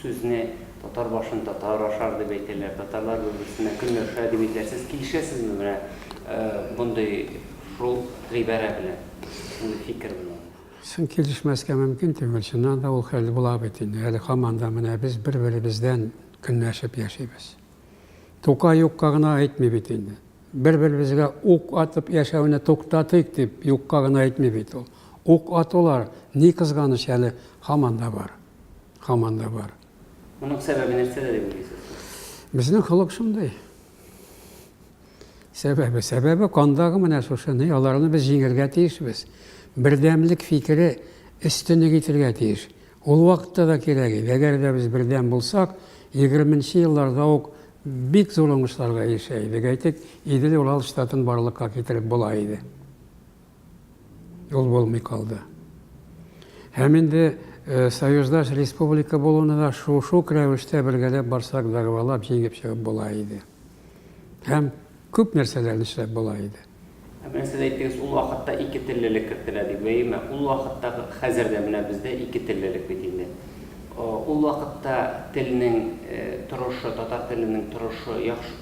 Сүзне Татар башын татар ашар дип әйтәләр, татарлар бер-берсенә көнләр төшә дип әйтәләр. Сез килешәсезме менә мондый шул гыйбарә белән, шундый фикер белән? Соң килешмәскә мөмкин түгел, чыннан да ул хәл була бит инде. Әле һаман да менә без бер-беребездән көнләшеп яшибез. Тукай юкка гына әйтми бит инде. Бер-беребезгә ук атып яшәүне туктатыйк дип юкка гына әйтми бит ул. Ук атулар, ни кызганыч, әле һаман да бар. Һаман да бар. Моның сәбәбе нәрсәдә дип уйлыйсыз? Безнең холык шундый. Сәбәбе, сәбәбе кандагы менә шушы, ни, аларны без җиңергә тиешбез. Бердәмлек фикере өстенлек итергә тиеш. Ул вакытта да кирәк иде. Әгәр дә без бердәм булсак, егерменче елларда ук бик зур уңышларга ирешә идек. Әйтик, Идел-Урал штатын барлыкка китереп була иде. Ул булмый калды. Һәм инде союздаш республика булуны да шук-шук рәвештә бергәләп барсак, дәгъвалап, җиңеп чыгып була иде. Һәм күп нәрсәләрне эшләп була иде. Менә сез әйттегез, ул вакытта ике теллелек кертелә дип. Әйеме? Ул вакытта, хәзер дә менә бездә ике теллелек бит инде. Ул вакытта телнең торышы, татар теленең торышы яхшы,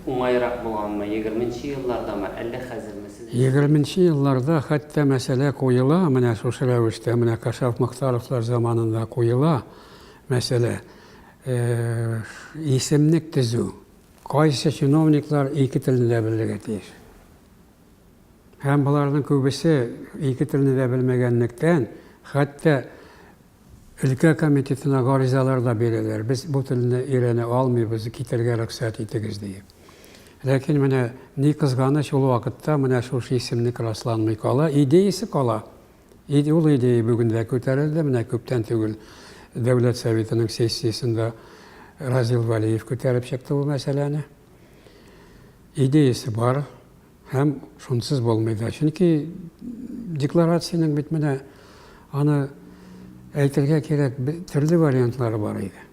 уңайрак булганмы, егерменче еллардамы, әллә хәзерме? Егерменче елларда хәтта мәсьәлә куела, менә шушы рәвештә, менә Кашаф-Мохтаровлар заманында куела мәсьәлә. Исемлек төзү. Кайсы чиновниклар ике телне дә белергә тиеш? Һәм боларның күбесе ике телне дә белмәгәнлектән, хәтта өлкә комитетына гаризалар да бирәләр, без бу телне өйрәнә алмыйбыз, китәргә рөхсәт итегез диеп. Ләкин менә ни кызганыч, ул вакытта менә шушы исемлек расланмый кала, идеясе кала. Иде ул идея бүген дә күтәрелде. Менә күптән түгел Дәүләт Советының сессиясендә Разил Валиев күтәреп чыкты бу мәсьәләне. Идеясе бар һәм шунсыз булмый да. Чөнки декларациянең бит менә аны әйтергә кирәк, төрле вариантлары бар иде.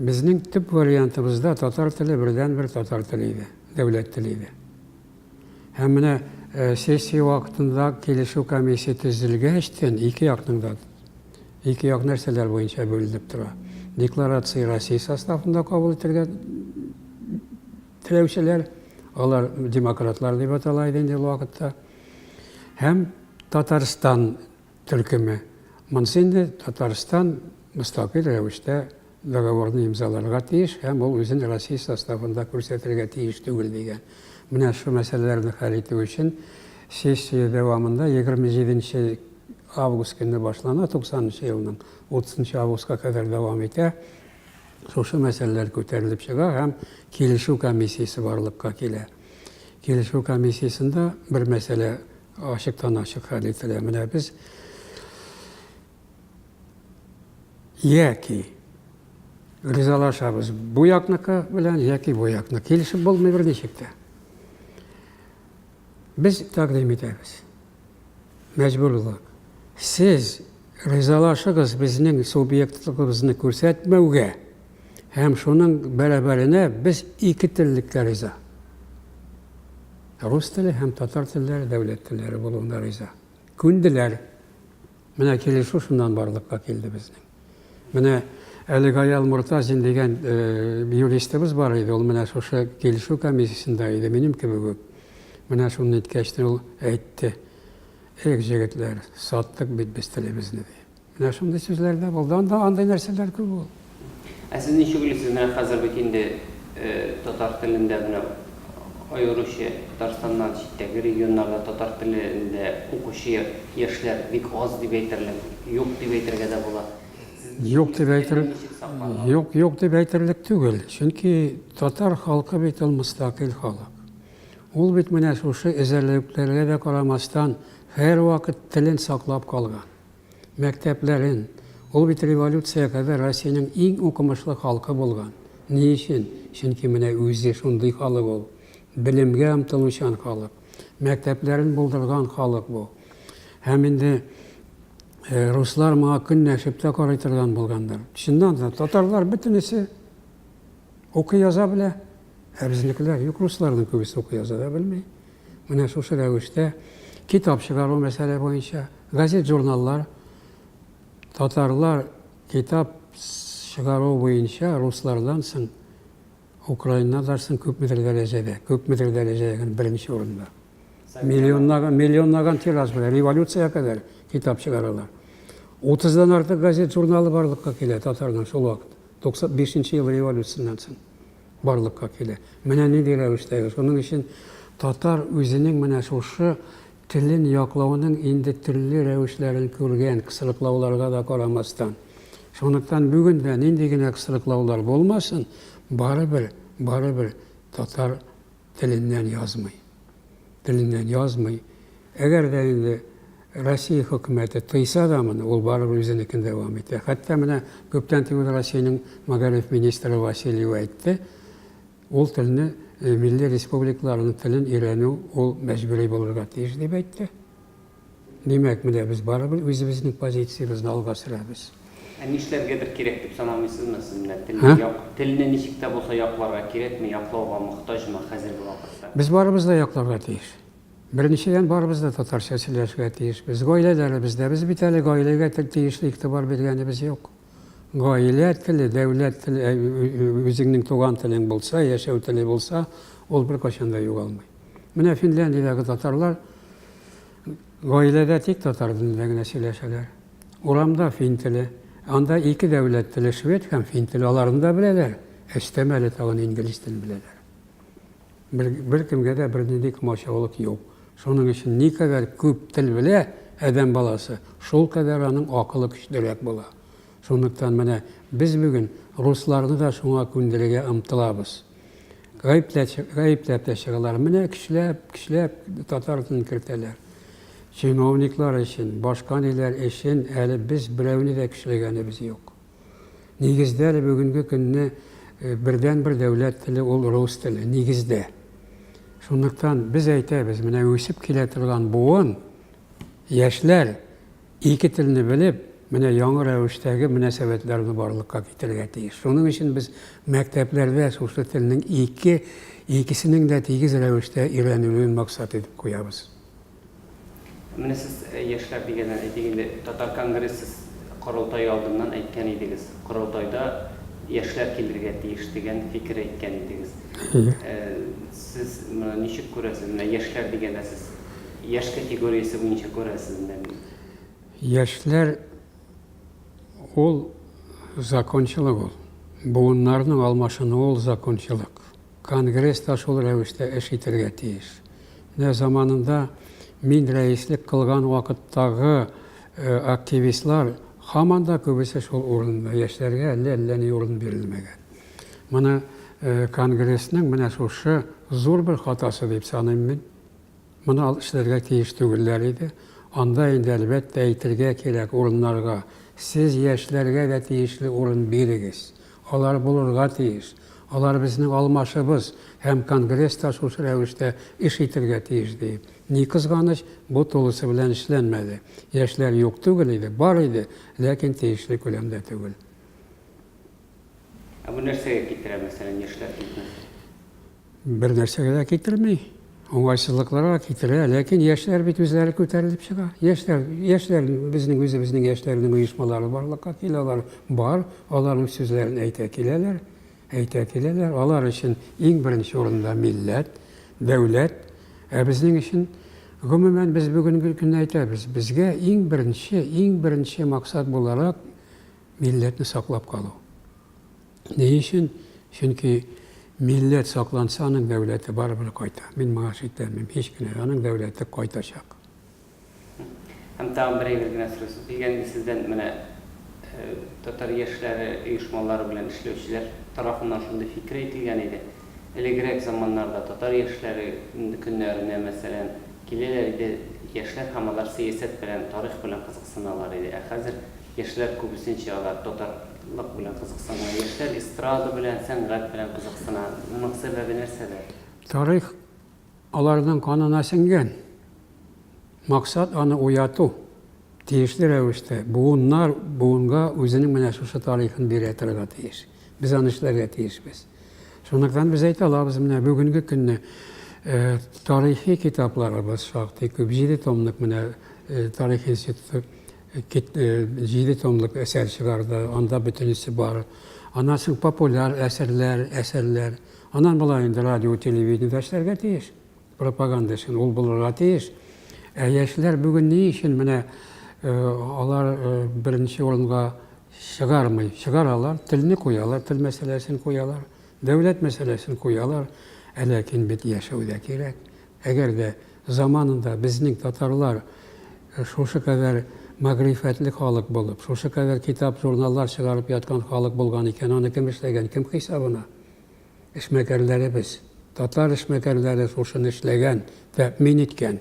Безнең төп вариантыбызда татар теле бердәнбер татар теле иде, дәүләт теле иде. Һәм менә сессия вакытында килешү комиссия төзелгәчтен ике якның да ике як нәрсәләр буенча бүленеп тора. Декларация Россия составында кабул итергә теләүчеләр, алар демократлар дип атала иде инде ул вакытта. Һәм Татарстан төркеме. Монысы инде Татарстан мөстәкыйль рәвештә договорны имзаларга тиеш һәм ул үзен Россия составында күрсәтергә тиеш түгел дигән. Менә шул мәсьәләләрне хәл итү өчен сессия дәвамында 27 нче август көнне башлана, 90 нчы елның 30 нчы августка кадәр дәвам итә, шушы мәсьәләләр күтәрелеп чыга һәм килешү комиссиясе барлыкка килә. Килешү комиссиясендә бер мәсьәлә Ачыктан-ачык хәл ителә. Менә без яки ризалашабыз бу якныкы белән яки бу якны. Килешеп булмый берничек тә. Без тәкъдим итәбез. Мәҗбүрлык. Сез ризалашыгыз безнең субъектлыгыбызны күрсәтмәүгә һәм шуның бәрабәренә без ике теллеккә риза. Рус теле һәм татар телләре дәүләт телләре булуына риза. Күнделәр. Менә килешү шуннан барлыкка килде безнең. Менә әле Гаял Мортазин дигән юристыбыз бар иде, ул менә шушы килешү комиссиясендә иде, минем кебек үк. Менә шуны әйткәч, ул әйтте, Эх, җегетләр, саттык бит без телебезне, ди. Менә шундый сүзләр дә булды анда, андый нәрсәләр күп ул. Ә сез ничек уйлыйсыз, менә хәзер бит инде татар телендә менә аеруча Татарстаннан читтәге регионнарда татар телендә укучы яшьләр бик аз дип әйтерлек, юк дип әйтергә дә була. Юк дип әйтер, юк, юк дип әйтерлек түгел, чөнки татар халкы бит ул мөстәкыйль халык. Ул бит менә шушы эзәрлекләргә дә карамастан, һәрвакыт телен саклап калган. мәктәпләрен, ул бит революция кадәр Россиянең иң укымышлы халкы булган. Ни өчен? Чөнки менә үзе шундый халык ул. Белемгә омтылучан халык. Мәктәпләрен булдырган халык бу. Һәм инде руслар моңа көнләшеп тә карый торган булгандыр. Чыннан да, татарлар бөтенесе укый яза белә, ә безнекеләр юк, русларның күбесе укый яза да белми. Менә шушы рәвештә китап чыгару мәсьәлә буенча, газет-журналлар, татарлар китап чыгару буенча руслардан соң украиннардан соң күпмедер дәрәҗәдә, күпмедер дәрәҗә ягын беренче урында. Миллионнаган, миллионнаган тираж белән революция кадәр китап чыгаралар. 30-дан артык газет-журналы барлыкка килә татарның шул вакыт, 95 нче ел революцияннән соң. барлыкка килә. Менә нинди рәвештәге. Шуның өчен татар үзенең менә шушы телен яклауның инде төрле рәвешләрен күргән, кысрыклауларга да карамастан. Шунлыктан бүген дә нинди генә кысрыклаулар булмасын, барыбер, барыбер татар теленнән язмый. Теленнән язмый. Әгәр дә инде Россия хөкүмәте тыйса да моны, ул барыбер үзенекен дәвам итә. Хәтта менә күптән түгел Россиянең мәгариф министры Васильева әйтте, ул телне милли республикаларның телен өйрәнү ул мәҗбүри булырга тиеш дип әйтте. Димәк, менә без барыбер үзебезнең позициябезне алга сөрәбез. Ә нишләргә бер кирәк дип санамыйсызмы сез менә телне як, телне ничек тә булса якларга кирәкме, яклауга мохтаҗмы хәзерге вакытта? Без барыбыз да якларга тиеш. Беренчедән, барыбыз да татарча сөйләшергә тиеш. Без гаиләләребез дә, без бит әле гаиләгә тиешле игътибар биргәнебез юк. Гаилә теле, дәүләт теле, үзеңнең туган телең булса, яшәү теле булса, ул беркайчан да югалмый. Менә Финляндиядәге татарлар гаиләдә тик татар телендә генә сөйләшәләр. Урамда фин теле. Анда ике дәүләт теле, швед һәм фин теле. Аларны да беләләр. Эштәмәле тагын инглиз телен беләләр. Бер, беркемгә дә бернинди комачаулык юк. Шуның өчен никадәр күп тел белә адәм баласы, шул кадәр аның акылы көчлерәк була. Шунлыктан менә без бүген русларны да шуңа күндерергә омтылабыз. Гаепләп, гаепләп тә чыгалар. Менә көчләп, көчләп татар телен кертәләр. Чиновниклар өчен, башка ниләр өчен әле без берәүне дә көчләгәнебез юк. Нигездә әле бүгенге көнне э, бердәнбер дәүләт теле ул рус теле, нигездә. Шунлыктан без әйтәбез, менә үсеп килә торган буын, яшьләр ике телне белеп, менә яңа рәвештәге мөнәсәбәтләрне барлыкка китерергә тиеш. Шуның өчен без мәктәпләрдә шушы телнең ике, икесенең дә тигез рәвештә өйрәнелүен максат итеп куябыз. Менә сез, яшьләр дигәннән, әйтик инде, Татар конгрессы корылтае алдыннан әйткән идегез, корылтайда яшьләр килергә тиеш дигән фикер әйткән идегез. Сез моны ничек күрәсез? Менә яшьләр дигәндә сез яшь категориясе буенча күрәсезмени? Яшьләр ул закончалык ул. Буыннарның алмашынуы ул закончалык. Конгресс та шул рәвештә эш итәргә тиеш. Менә заманында мин рәислек кылган вакыттагы активистлар һаман да күбесе шул урында, яшьләргә әллә әллә ни урын бирелмәгән. Моны Конгрессның менә шушы зур бер хатасы дип саныйм мин. Моны алып эшләргә тиеш түгелләр иде. Анда инде әлбәттә әйтергә кирәк урыннарга, сез яшьләргә дә тиешле урын бирегез. Алар булырга тиеш. Алар безнең алмашыбыз һәм конгресс та шушы рәвештә эш итергә тиеш, ди. Ни кызганыч, бу тулысы белән эшләнмәде. Яшьләр юк түгел иде, бар иде, ләкин тиешле күләмдә түгел. Ә бу нәрсәгә китерә, мәсәлән, яшьләр китмәсә? Бер нәрсәгә дә китерми, уңайсызлыкларга китерә, ләкин яшьләр бит үзләре күтәрелеп чыга. Яшьләр, яшьләр безнең үзебезнең яшьләрнең оешмалары барлыкка килә, алар бар, аларның сүзләрен әйтә киләләр, әйтә киләләр. Алар өчен иң беренче урында милләт, дәүләт, ә безнең өчен Гомумән, без бүгенге көнне әйтәбез, безгә иң беренче, иң беренче максат буларак милләтне саклап калу. Ни өчен? Чөнки милләт сакланса, аның дәүләте барыбер кайта. Мин моңа шикләнмим һич кенә дә. Аның дәүләте кайтачак. Һәм тагын бер әйбер генә сорыйсы килгән иде сездән, менә татар яшьләре оешмалары белән эшләүчеләр тарафыннан шундый фикер әйтелгән иде, элегрәк заманнарда татар яшьләре көннәренә, мәсәлән, киләләр иде яшьләр һәм алар сәясәт белән, тарих белән кызыксыналар иде, ә хәзер, Яшьләр күбесенчә алар татарлык белән кызыксына. Яшьләр эстрада белән, сәнгать белән кызыксына. Моның сәбәбе нәрсәдә? Тарих аларның канына сеңгән. Максат аны уяту. Тиешле рәвештә буыннар буынга үзенең менә шушы тарихын бирә торырга тиеш. Без аны эшләргә тиешбез. Шунлыктан без әйтә алабыз, менә бүгенге көнне тарихи китапларыбыз шактый күп. Җиде томлык менә тарих институты Кит җиде томлык әсәр чыгарды, анда бөтенесе бар. Аннан соң популяр әсәрләр, әсәрләр. Аннан болай инде радио, телевидениедә эшләргә тиеш. Пропаганда өчен ул булырга тиеш. Ә яшьләр бүген ни өчен менә алар беренче урынга чыгармый? Чыгаралар, телне куялар, тел мәсьәләсен куялар, дәүләт мәсьәләсен куялар. Ә ләкин бит яшәү дә кирәк. Әгәр дә заманында безнең татарлар шушы кадәр мәгърифәтле халык булып, шушы кадәр китап-журналлар чыгарып яткан халык булган икән, аны кем эшләгән, кем хисабына? Эшмәкәрләребез. Татар эшмәкәрләре шушыны эшләгән, тәэмин иткән.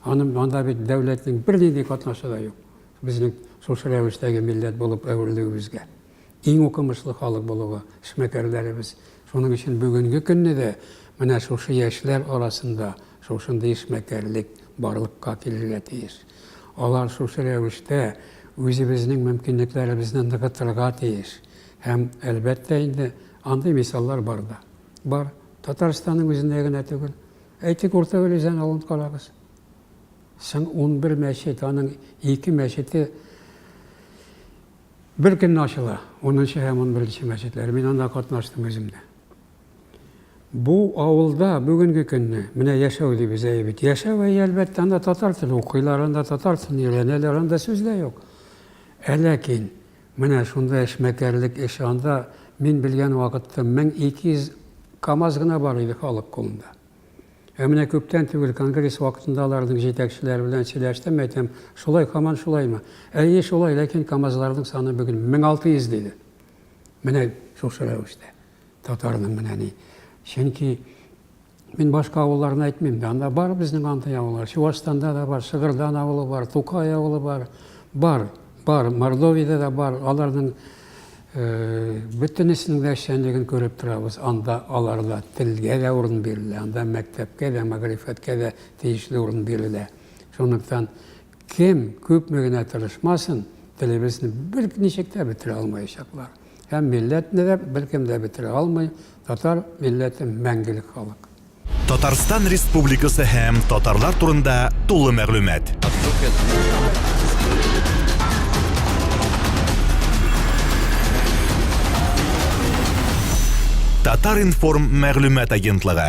Аны, анда бит дәүләтнең бернинди катнашы да юк, безнең шушы рәвештәге милләт булып әверелүебезгә. иң укымышлы халык булуы, эшмәкәрләребез. Шуның өчен бүгенге көнне дә менә шушы яшьләр арасында шушындый эшмәкәрлек барлыкка килергә тиеш. Алар шушы рәвештә үзебезнең мөмкинлекләребезне ныгытырга тиеш. Һәм, әлбәттә инде, андый мисаллар бар да. Бар. Татарстанның үзендә генә түгел. Әйтик, Урта Өлезән авылын карагыз. Соң унбер мәчет, аның ике мәчете Бер көнне ачыла, унынчы һәм унберенче мәчетләре. Мин анда катнаштым үзем дә. Бу авылда бүгенге көнне, менә яшәү дибез әйе бит. Яшәү әйе, әлбәттә, анда татар теле укыйлар, анда татар телен өйрәнәләр, анда сүз дә юк. Ә ләкин менә шунда эшмәкәрлек эше, анда мин белгән вакытта 1200 КАМАЗ гына бар иде халык кулында. Ә менә күптән түгел конгресс вакытында аларның җитәкчеләре белән сөйләштем, әйтәм, шулай, һаман шулаймы? Әйе, шулай, ләкин КАМАЗларның саны бүген 1600, диде. Менә шушы рәвештә. Татарның менә ни. Чөнки Мин башка авылларны әйтмим дә, анда бар безнең андый авыллар. Чувашстанда да бар, Шыгырдан авылы бар, Тукай авылы бар, бар, бар, Мордовиядә дә бар, аларның Бөтенесенең дә эшчәнлеген күреп торабыз. Анда аларда телгә дә урын бирелә, анда мәктәпкә дә, мәгърифәткә дә тиешле урын бирелә. Шунлыктан кем күпме генә тырышмасын, телебезне берничек тә бетерә алмаячаклар. Һәм милләтне дә беркем дә бетерә алмый. Татар милләте мәңгелек халык. Татарстан Республикасы һәм татарлар турында тулы мәгълүмат. Татар-информ мәгълүмат агентлыгы.